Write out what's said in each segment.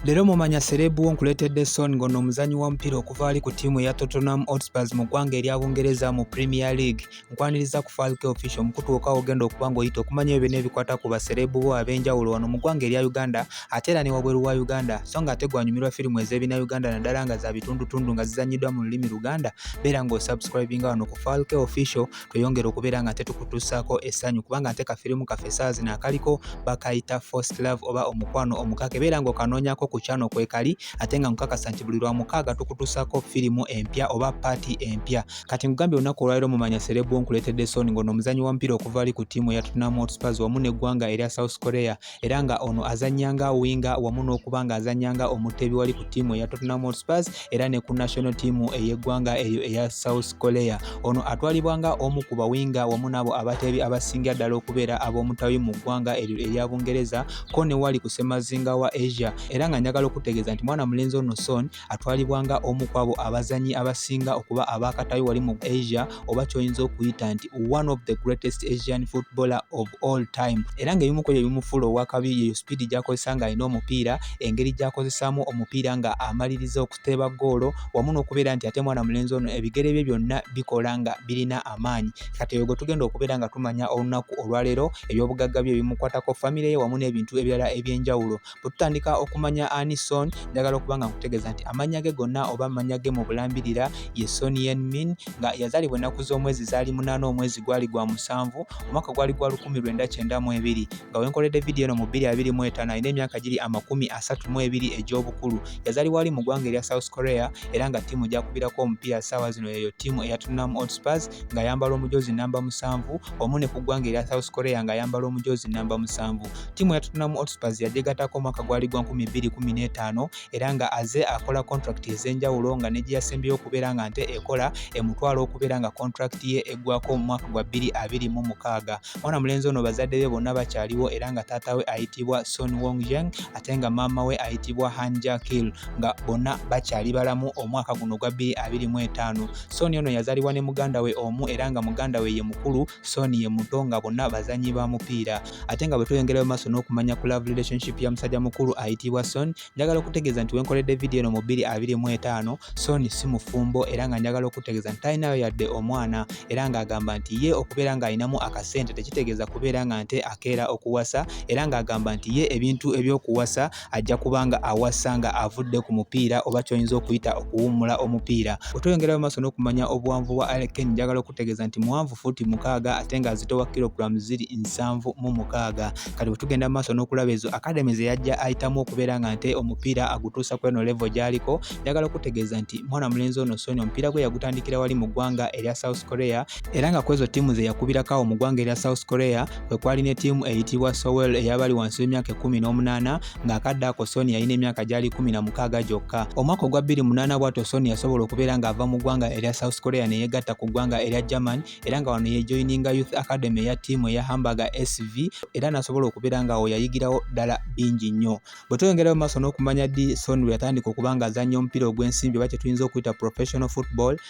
Leero mumanya serebu wo nkuleetedde Son ng'ono omuzanyi w'omupiira okuva ali ku ttiimu eya Tottenham Hotspurs mu ggwanga erya Bungereza mu Premier League. Nkwaniriza ku Falk Official omukutu wokka ogenda okuba ng'oyita okumanya ebyo byonna ebikwata ku baserebu bo ab'enjawulo wano mu ggwanga erya Uganda ate era ne wabweru wa Uganda so ng'ate gwanyumirwa firimu ez'ebina Uganda naddala nga za bitundutundu nga zizannyiddwa mu lulimi Luganda beera ng'osubscribinga wano ku Falk Official tweyongere okubeera nga tetukutuusaako essanyu kubanga nte kafirimu kaffe saa zino akaliko bakayita first love oba omukwano omukaka ebeera nga okanoonyako ku kyano kwekali ate nga nkukakasa nti buli lwa mukaaga tukutuusaako firimu empya oba paati empya kati nkugambye olunaku olwaliro mumanya serebu nkuleetedde sooni ng'ono omuzanyi wa mupiira okuva ali ku ttiimu eya tottenham hotspurs wamu n'eggwanga erya south korea era nga ono azannya nga winga wamu n'okuba nga azannya nga omuteebi wali ku ttiimu eya Tottenham Hotspurs era ne ku national team ey'eggwanga eryo eya South Korea ono atwalibwa nga omu ku bawinga wamu n'abo abateebi abasingira ddala okubeera ab'omutawi mu ggwanga eryo erya Bungereza ko ne wali ku ssemazinga wa Asia era nga njagala okutegeeza nti mwana mulenzi ono Son atwalibwa nga omu ku abo abazanyi abasinga okuba abakatayo wali mu asia oba kyoyinza okuyita nti one of the greatest asian footballer of all time era ngaebimu ku ebyo bimufuula owakabi yeyo sipiidi gyakozesa nga alina omupiira engeri gyakozesaamu omupiira nga amaliriza okuteeba goolo wamu n'okubeera nti ate mwana mulenzi ono ebigere bye byonna bikola nga birina amaanyi kati eyo gwe tugenda okubeera nga tumanya olunaku olwaleero ebyobugagga bye bimukwatako famire ye wamu n'ebintu ebirala ebyenjawulo bwetutandika okumanya ani son njagala okuba nga nkutegeeza nti amannya ge gonna oba amannya ge mu bulambirira ye son yen min nga yazaalibwa ennaku z'omwezi zaali munaana omwezi gwali gwa musanvu omwaka gwali gwa lukumi lwenda kyenda mu ebiri nga wenkoledde vidiyo eno mu bbiri abiri mu etaano alina emyaka giri amakumi asatu mu ebiri egy'obukulu yazaalibwa ali mu ggwanga erya south korea era nga ttiimu gyakubirako omupiira ssaawa zino yeyo ttiimu eya tottenham hotspurs ng'ayambala omujoozi namba musanvu omu ne ku ggwanga erya south korea ng'ayambala omujoozi namba musanvu Ttiimu ya Tottenham Hotspurs yagyegattako omwaka gwali gwa 2015 era nga aze akola kontulakiti ez'enjawulo nga ne gye yasembyeyo okubeera nga nte ekola emutwala okubeera nga kontulakiti ye eggwako mu mwaka gwa 2026. Mwana mulenzi ono bazadde be bonna bakyaliwo era nga taata we ayitibwa Son Wong Yang ate nga maama we ayitibwa Han Ja Kil nga bonna bakyali balamu omwaka guno gwa 2025. Son ono yazalibwa ne muganda we omu era nga muganda we ye mukulu Son ye muto nga bonna bazanyi ba mupiira ate nga bwe tweyongerayo maaso n'okumanya ku love relationship ya musajja mukulu ayitibwa Son njagala okutegeeza nti wenkoledde vidiyo eno mu 225 Son si mufumbo era nga njagala okutegeeza nti talinayo yadde omwana era ng'agamba nti ye okubeera ng'alinamu akasente tekitegeeza kubeera nga nte akeera okuwasa era ng'agamba nti ye ebintu ebyokuwasa ajja kuba nga awasa nga avudde ku mupiira oba kyoyinza okuyita okuwummula omupiira wetweyongerayo maaso n'okumanya obuwanvu bwa aleken njagala okutegeeza nti muwanvu fuuti mukaaga ate nga azitowa kilogulamu ziri nsanvu mu mukaaga kati wetugenda mu maaso n'okulaba ezo akademi ze yajja ayitamu okubeera nga nte omupiira agutuusa ku eno levo gyaliko njagala okutegeeza nti mwana mulenzi ono sony omupiira gwe yagutandikira wali mu ggwanga erya south korea era nga kwezo ttiimu ze yakubirako awo mu ggwanga erya South Korea kwe kwali ne ttiimu eyitibwa Sowell eyabali wansi w'emyaka ekkumi n'omunaana ng'akadde ako Sony yalina emyaka gyali kumi na mukaaga gyokka omwaka ogwa bbiri munaana bwatyo Sony yasobola okubeera ng'ava mu ggwanga erya South Korea ne yeegatta ku ggwanga erya German era nga wano yejoyininga Youth Academy eya ttiimu eya Hamburger SV era n'asobola okubeera ng'awo yayigirawo ddala bingi nnyo bwe tweyongerayo maaso n'okumanya ddi Sony lwe yatandika okuba ng'azannya omupiira ogw'ensimbi oba kye tuyinza okuyita professional football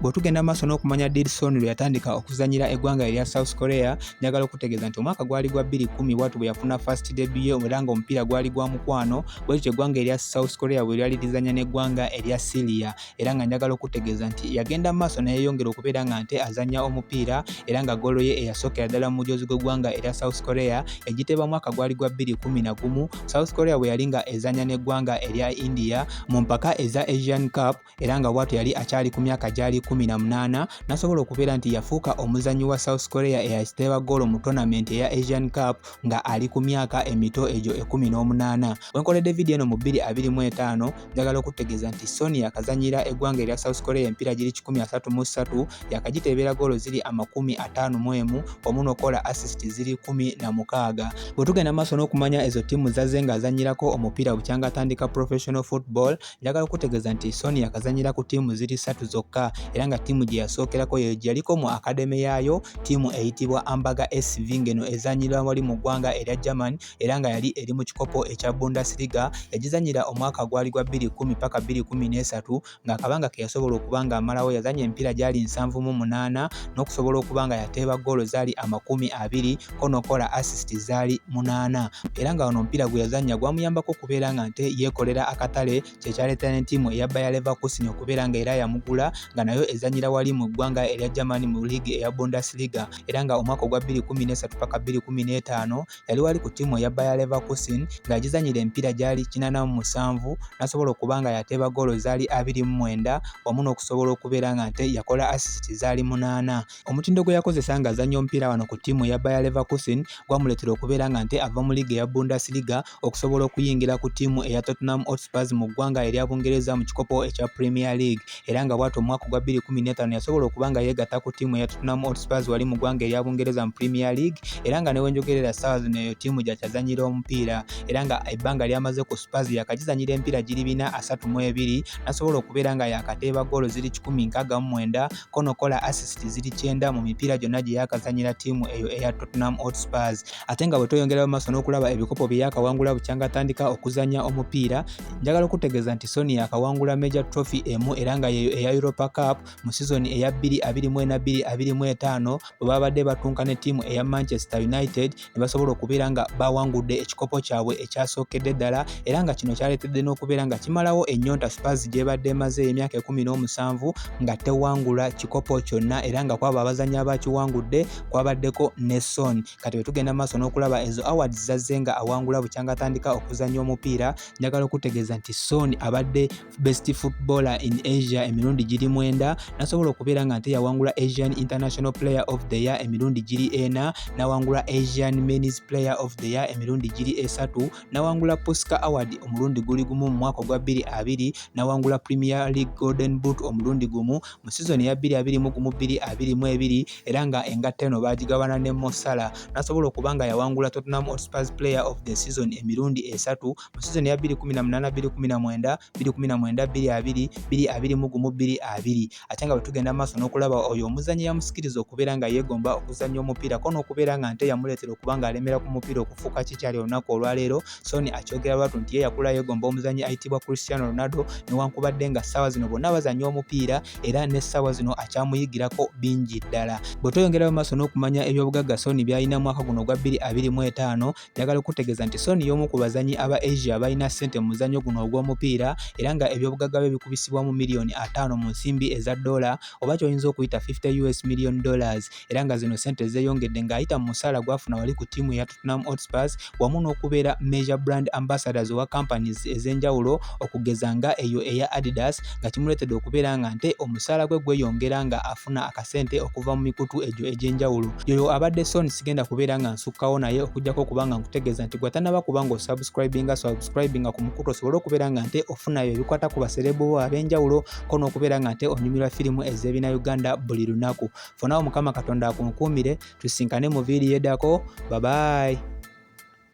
Bw'otugenda mu maaso n'okumanya Dilson lwe yatandika okuzannyira eggwanga erya South Korea, njagala okutegeeza nti omwaka gwali gwa 2010 bwatu bwe yafuna first debut ye era ng'omupiira gwali gwa mukwano bwe lityo eggwanga erya South Korea bwe lyali lizannya n'eggwanga erya Syria era nga njagala okutegeeza nti yagenda mu maaso neyeyongera okubeera nga nte azannya omupiira era nga golo ye eyasookera ddala mu mujoozi gw'eggwanga erya South Korea egiteeba mwaka gwali gwa 2011 South Korea bwe yali nga ezannya n'eggwanga erya India mu mpaka eza Asian Cup era nga bwatyo yali akyali ku myaka gyali 18 nasobola okubeera nti yafuuka omuzannyi wa south korea eyakiteeba goolo mu tonament eya asian cup nga ali ku myaka emito egyo 18 wenkoledde vidiyo eno mu 225 njagala okutegeeza nti soni yakazanyira eggwanga erya south korea empiira giri 133 yakagiteebeera goolo ziri amakumi 51 omu nokola assist ziri 16 bwetugenda maaso n'okumanya ezo ttiimu zazze ng'azannyirako omupiira bukyanga atandika professional football Njagala okutegeeza nti Sonia yakazannyira ku ttiimu ziri ssatu zokka era nga ttiimu gye yasookerako ye yaliko mu akademe yaayo ttiimu eyitibwa Ambaga SV ng'eno ezannyira wali mu ggwanga erya German era nga yali eri mu kikopo ekya Bundesliga yagizannyira omwaka gwali gwa 2010 paka 2013 ng'akabanga ke yasobola okuba ng'amalawo yazannya emipiira gyali nsanvu mu munaana n'okusobola okuba nga yateeba ggoolo zaali amakumi abiri ko n'okukola assist zaali munaana era nga wano omupiira gwe yazannya gwamuyambako okubeera nga nte yeekolera akatale kye kyaleeta ne ttiimu eya Bayer Leverkusen okubeera nga era yamugula nga nayo ezannyira wali mu ggwanga erya Germany mu liigi eya Bundesliga era nga omwaka ogwa 2013 paka 2015 yali wali ku ttiimu eya Bayer Leverkusen nga yagizannyira emipiira gyali kinaana mu musanvu n'asobola okuba nga yateeba goolo zaali abiri mu mwenda wamu n'okusobola okubeera nga nte yakola assist zaali munaana Omutindo gwe yakozesa ng'azannya omupiira wano ku ttiimu eya Bayer Leverkusen gwamuleetera okubeera nga nte ava mu liiga eya Bundesliga okusobola okuyingira ku ttiimu eya Tottenham Hotspurs mu ggwanga erya Bungereza mu kikopo ekya Premier League era nga bw'atyo omwaka ogwa 2015 yasobola okuba nga yeegatta ku ttiimu eya Tottenham Hotspurs wali mu ggwanga erya Bungereza mu Premier League era nga ne we njogerera ssaawa zino eyo ttiimu gyakyazannyira omupiira era nga ebbanga ly'amaze ku Spurs yakagizannyira empiira giri bina asatu mu ebiri n'asobola okubeera nga yakateeba ggoolo ziri 169 Kono kola assist ziri kyenda mu mipiira gyonna gye yakazanyira ttiimu eyo eya Tottenham Hotspurs ate nga bwe tweyongerayo maaso n'okulaba ebikopo bye yakawangula bukyanga atandika okuzanya omupiira njagala okutegeeza nti Son yakawangula Major Trophy emu era nga yeeyo eya Europa Cup mu sizoni eya 2022-2025 bwe babadde batunka ne ttiimu eya Manchester United ne basobola okubeera nga bawangudde ekikopo kyabwe ekyasookedde ddala era nga kino kyaleetedde n'okubeera nga kimalawo ennyonta Spurs gy'ebadde emaze emyaka ekumi n'omusanvu nga tewangula kikopo kyonna era nga kwabo abazannyi abakiwangudde kwabaddeko ne Son kati bwe tugenda maaso n'okulaba ezo awards zazze nga awangula bukyanga atandika okuzannya omupiira njagala okutegeeza nti Son abadde best footballer in asia emirundi giri mwenda nasobola okubeera nga nte yawangula asian international player of the year emirundi giri ena nawangula asian mens player of the year emirundi giri esatu nawangula posca award omulundi guli gumu mu mwaka ogwa 22 nawangula premier league golden boot omulundi gumu mu sizoni ya 2222 era nga engatta eno bagigabana ne mosala nasobola okuba nga yawangula tottenham hotspurs player of the season emirundi esatu mu sizoni ya 2018 2019 2019 2020 2020 mu gumu 2020 ate nga bwe tugenda mu maaso n'okulaba oyo omuzannyi yamusikiriza okubeera nga yeegomba okuzannya omupiira ko n'okubeera nga nte yamuleetera okuba ng'alemera ku mupiira okufuuka kikyali olunaku olwaleero sony akyogera lwatu nti ye yakula yeegomba omuzannyi ayitibwa cristiano ronaldo newankubadde nga ssaawa zino bonna bazannya omupiira era n'essaawa zino akyamuyigirako bingi ddala bwe tweyongerayo maaso n'okumanya ebyobugagga sony byalina mwaka guno ogwa 2025 Njagala okukutegeeza nti Son y'omu ku bazannyi aba Asia abalina ssente mu muzannyo guno ogw'omupiira era nga ebyobugagga bye bikubisibwamu miliyoni ataano mu nsimbi eza doola oba ky'oyinza okuyita 50 us million dollars era nga zino ssente zeeyongedde ng'ayita mu musaala gwafuna wali ku ttiimu ya Tottenham Hotspurs wamu n'okubeera major brand ambassadors owa companies ez'enjawulo okugeza nga eyo eya Adidas nga kimuleetedde okubeera nga nte omusaala gwe gweyongera nga afuna akasente okuva mu mikutu egyo egy'enjawulo yoyo abadde son sigenda kubeera nga nsukkawo naye okujjako okuba nga nkutegeeza nti gwe atanaba kuba nga osubscribinga subscribinga ku mukutu osobole okubeera nga nte ofunayo ebikwata ku baserebu bo ab'enjawulo ko n'okubeera nga nte onyumirwa firimu ez'ebina uganda buli lunaku fonawo mukama katonda akunkuumire tusinkane mu viiriyo edako babayi